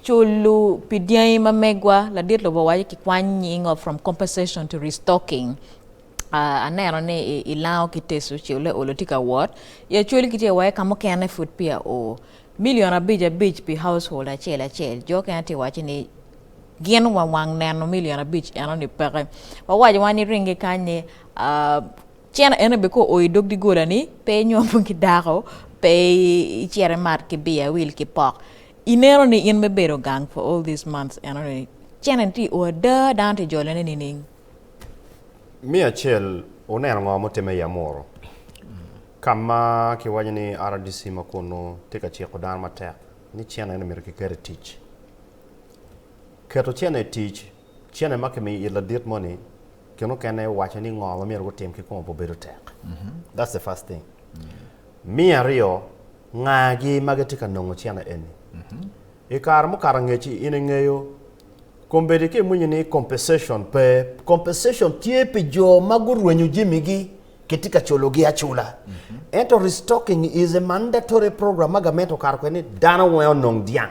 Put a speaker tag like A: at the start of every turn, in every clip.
A: Culu pi dyangi ma megwa, ladit lobo waco ki kwany nying of from compensation to restocking. Uh, aneno ni i, i lango ki teso ce ole olo tye ka wot. I acwali kitye waye ka mukene pud pi a o. Million abic abic pi household acel acel. Jo kene tye waco ni gin wa wang neno million abic eno ni peke. Wawaco wa ni ringi kany ni uh, cene eno be ko o i dog digola ni pe inyom ki dako, pe icere mat ki biya wil ki pok. Ineno ni in me bedo gang for all these months enoni cene tye o ada dano tye jolone nining?
B: Miyo acel wuneno ngo mutime i Amuru kama kiwaco ni RDC ma kunu tye ka ciko dano matek ni cene eni myero kiket i tic. Keto cene i tic, cene ma kimiyo it ladit moni kine mukene waco ni ngo ma myero gutim ki kome pe obedo tek. That's the first thing. Me aryo Ngagi ma gitye ka nongo cene eni. I kare mukato angec-ci, in ingeyo kombeddi ki imwinyo ni compensation pe. Compensation tye pi jo ma gurwenyo jamigi, kitye ka culogi acula. Ento restocking is a mandatory program ma gament okato kwede ni dano weng onong dyang.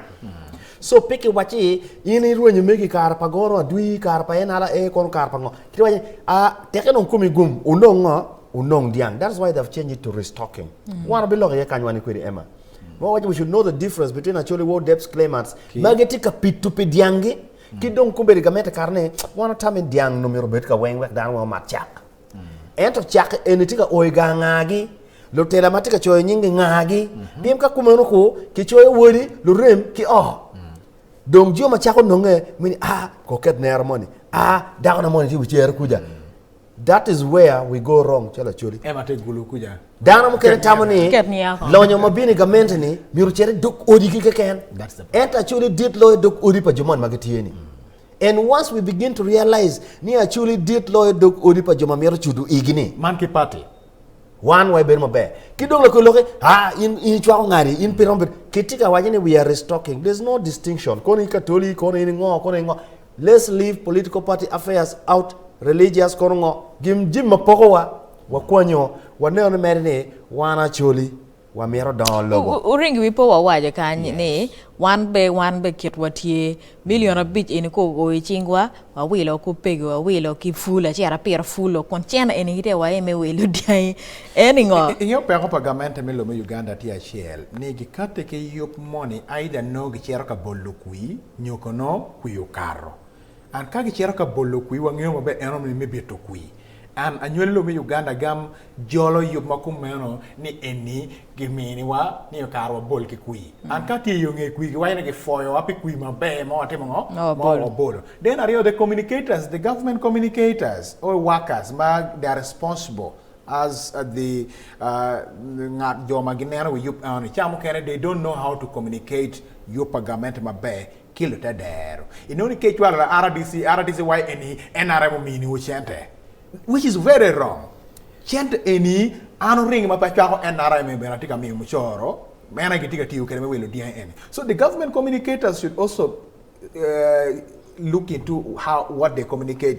B: So pe kiwaco ni in irwenyo megi i kare pa Goro Adwi, i kare pa NRA, kono kare pa ngo? Kiti waco ni, ah, teke dong komi gum, onong ngo? onong dyang that's why they've changed it to restock him wan wabiloko iye kany wan ni kwedi Emma ma wawaco we should know the difference between Acholi War Depths Claimants ma gitye ka pito pi dyanggi ki dong kong bedi gamente kare ni wan watamo ni dyang nongo myero obed ka weng wek dano weng omat cak ento cak eni tye ka o i gang ngagi lutela ma tye ka coyo nyinggi ngagi pien ka kumeno ku kicoyo wodi lurem ki o dong jo ma cako nonge mi ni a koket nera moni a dakona moni tye wi cere kuca That is where we go wrong calo Acholi. Ema te gulu kuja.
C: Dano mukene tamo
B: ni Ket niya ko. lonyo ma bino i gamente-ni myero ocit i dog odigi keken. That's the problem. Ento Acholi dit loyo dog odi pa jo moni ma gitye-ni. And once we begin to realize ni Acholi dit loyo dog odi pa jo ma mito cudo igi-ni, Man ki party.
C: wan wa
B: ebedo maber. Ki dong lakwe lokke, ah, in, in icwako ngani, in pe iromo bedo. Kitye ka waco ni we are restocking. There's no distinction. Kono in Katoli, kono in ingo, kono in ingo. Let's leave political party affairs out religious kono ngo? Gin jim ma poko wa, wakwanyo, waneno ni mere ni wan Acholi wa mito dongo lobo. Wuring wi pe wawaco
A: kany ni wan be wan be kitwa tye million abic eni ko o i cing wa wawilo ku pegi wawilo ki full acer apira full o kun cen eni gitye wa aye me wilo dyangi eni ngo? Ingeyo peko pa
C: gamente me lobo me Uganda tye acel ni gikate ki yub moni aida nongo gicito ka bolo kwi nyo kono kwir okato. And ka gicito ka bolo kwir wangeyo maber en romo ni me bito kwir. And anywali lobo me Uganda agam jolo yub ma kumeno ni eni gimini wa ni okato wa bol ki kwir. And ka tye iyo nge kwir giwaco ni gifoyo wa pi kwir maber ma watimo ngo? Ma wabolo. Then aryo the communicators, the government communicators or workers ma they are responsible As the ngat jo ma gineno wi yub enoni ca mukene they don't know how to communicate yub pa gamente maber ki lute dero inongo ni ka icwalo la RDC RDC wai eni nrm omini wu cente which is very wrong cente eni an oringi ma pe acwako nrm eni bene atye ka miyo mucoro meno aye gitye ka tiyo kwede me wilo dyangi eni so the government communicators should also look into how what they communicate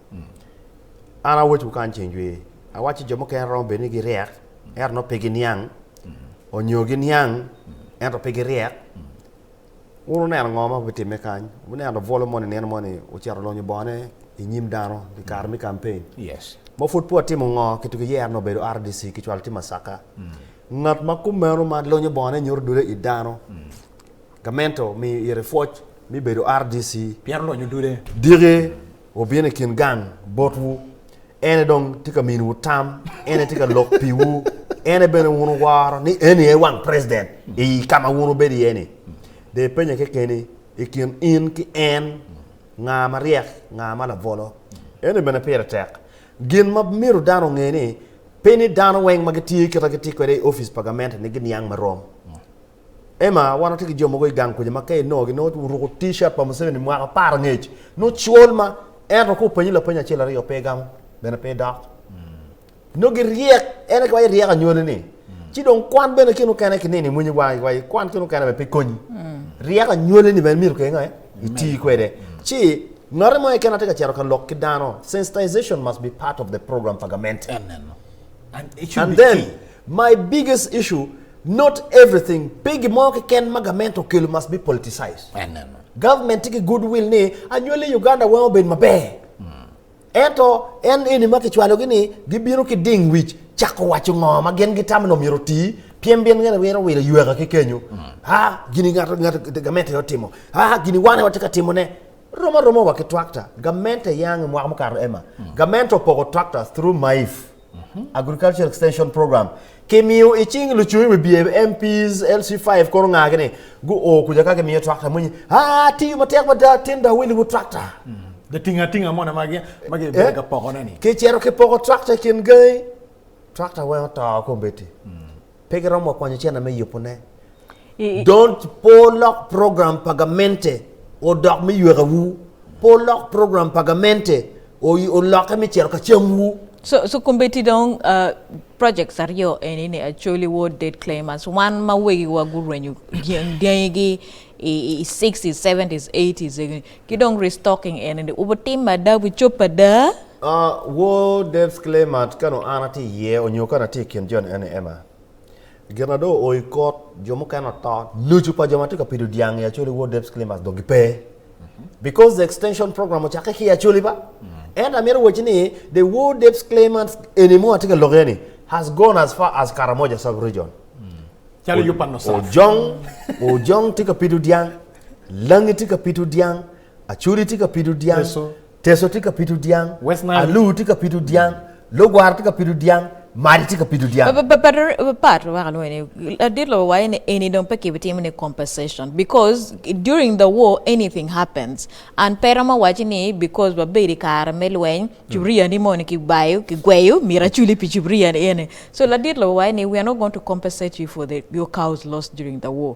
B: An awecwu kany ceng jwi, awacci ni jo mukene romo bedo ni giryek, ento nongo pe giniang, onyo giniang, ento pe giryek. Wun wuneno ngo ma bitimme kany? Wuneno bwolo moni nino moni ocito olonyo bongone i nyim dano i kare me campaign? Yes. Ma pud
C: pe watimo
B: ngo, kit ki yero ni obedo RDC kicwalo ki Masaka. Ngat ma kumeno ma lonyo bongone nyuto dule i dano, Gamente omiyo ite pwoc me bedo RDC. Pien lonyo dude.
C: Diki
B: wubino i kin gang botwu, en aye dong tye ka miniwu tam, en aye tye ka lok piwu, en aye bene wun wuworo ni eni aye wang president i ka ma wun wubedo iye-ni. Dong ipenye kekeni, i kin in ki en, nga ma ryek, nga ma labolo? Eno bene pire tek. Gin ma myero dano onge ni, pe ni dano weng ma gitiyo kit ma gitye kwede i opic pa gamente ni giniang ma rom. Emma, Wan watye ki jo mogo i gang kuca ma ka inongogi nongo guruko T-shirt pa Museveni mwaka apar angec, nongo col ma ento ka openyi lapeny acel aryo pe gamo, bene pe dok. Nongo giryek, en aye kawai ryek anywali-ni. Ci dong kwan bene kene mukene ki nino imwony wangi kawai ikwan kene mukene bene pe konyi. Ryek anywali-ni bene myero kenge iti kwede. Ci ngotti mo keken ma tye ka cito ka lok ki dano, sensitization must be part of the program pa gamente. And then, My biggest issue not everything pe gin mo keken ma gament okelo must be politicized. Government tye ki good will ni anywali Uganda weng obed maber. Ento en eni ma kicwalogi ni gibino ki ding wic cako waco ngo ma gin gitamo ni omyero oti pien bin gene wiro wilo yweka ki kenyo. Ha gini ngat ngat gament aye otimo. Ha gini wan aye watye ka timo ne. Rom aroma wa ki tractor. Gament aye ange mwaka mukato Emma. Gament opoko tractor through Maif. Agriculture Extension Program, kimiyo i cing lucung i wibye, MPs, LC five kono ngagi ni guo kuca ka gimiyo tractor moni, haa tiyo matek mada tin da wili wu tractor. Da tinga
C: tinga moni ma gi ma gi bedo ka pokone ni. Ki cito ki poko
B: tractor i kin gangi, tractor weng oto kombeddi. Pe giromo wa kwanyo cene me yubu ne. Don't po lok program pa gamente odok me yweka wu. Po lok program pa gamente oloke me cito ka cam wu. So, so kombeti
A: dong uh, projects aryo eni ni actually war dead claimers wan ma wegiwa gurwenyo dyang dyangi gi i, i 60s, 70s, 80s Ki dong restocking eni ni ubo tim ma ada wi cob ada. Ah, woo
B: Dave's Clay Mart ka nongo an atye iye onyo ka nongo atye ikin jo ni eni Emma. Gin na dong oo i kot, jo mukene oto, nucu pa jo ma tye ka pido dyang i Acholi woo Dave's Clay Mart dong gi pe. Because the extension program ocakke ki i Acholi ba. Ento amito wacci ni the woo Dave's Clay Mart eni mo atye ka lok iye ni has gone as far as Karamoja sub region. Calo yub pa Nusaf. Ojong, Ojong tye ka pido dyang. Langi tye ka pito dyang, Acudi tye ka pito dyang, Teso tye ka pito dyang, Alu tye ka pito dyang, Logwar tye ka pito dyang, Madi tye ka pito dyang. Pat
A: wek alwonge ni ladit lobo waco ni eni dong pe kibitimo ni compensation because during the war anything happens and pe romo waco ni because wabedo i kare me lweny cuburia ni moni kibayo kigweyo myero aculi pi cuburia ni eni so ladit lobo waco ni we are not going to compensate you for the your cows lost during the war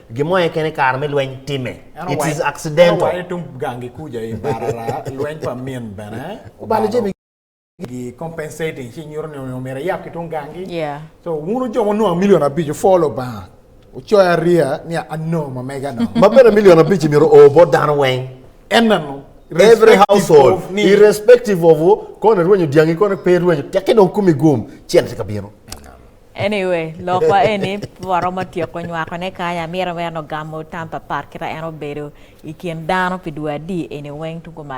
B: Gin mo aye kene kare me lweny timme. It is
C: accidental. Ma bene million abic-ci myero
B: o bot dano weng,
C: every
B: household, irrespective of kong erwenyo dyangi, kong pe erwenyo, tekke dong kumi gum, cente tye ka bino. Anyway,
A: lok wa eni pe waromo tyeko nywako ne kany, amito mere ni ogamo tam pa pat kita en obedo ikin dano pi dwe adi eni weng tugo malo.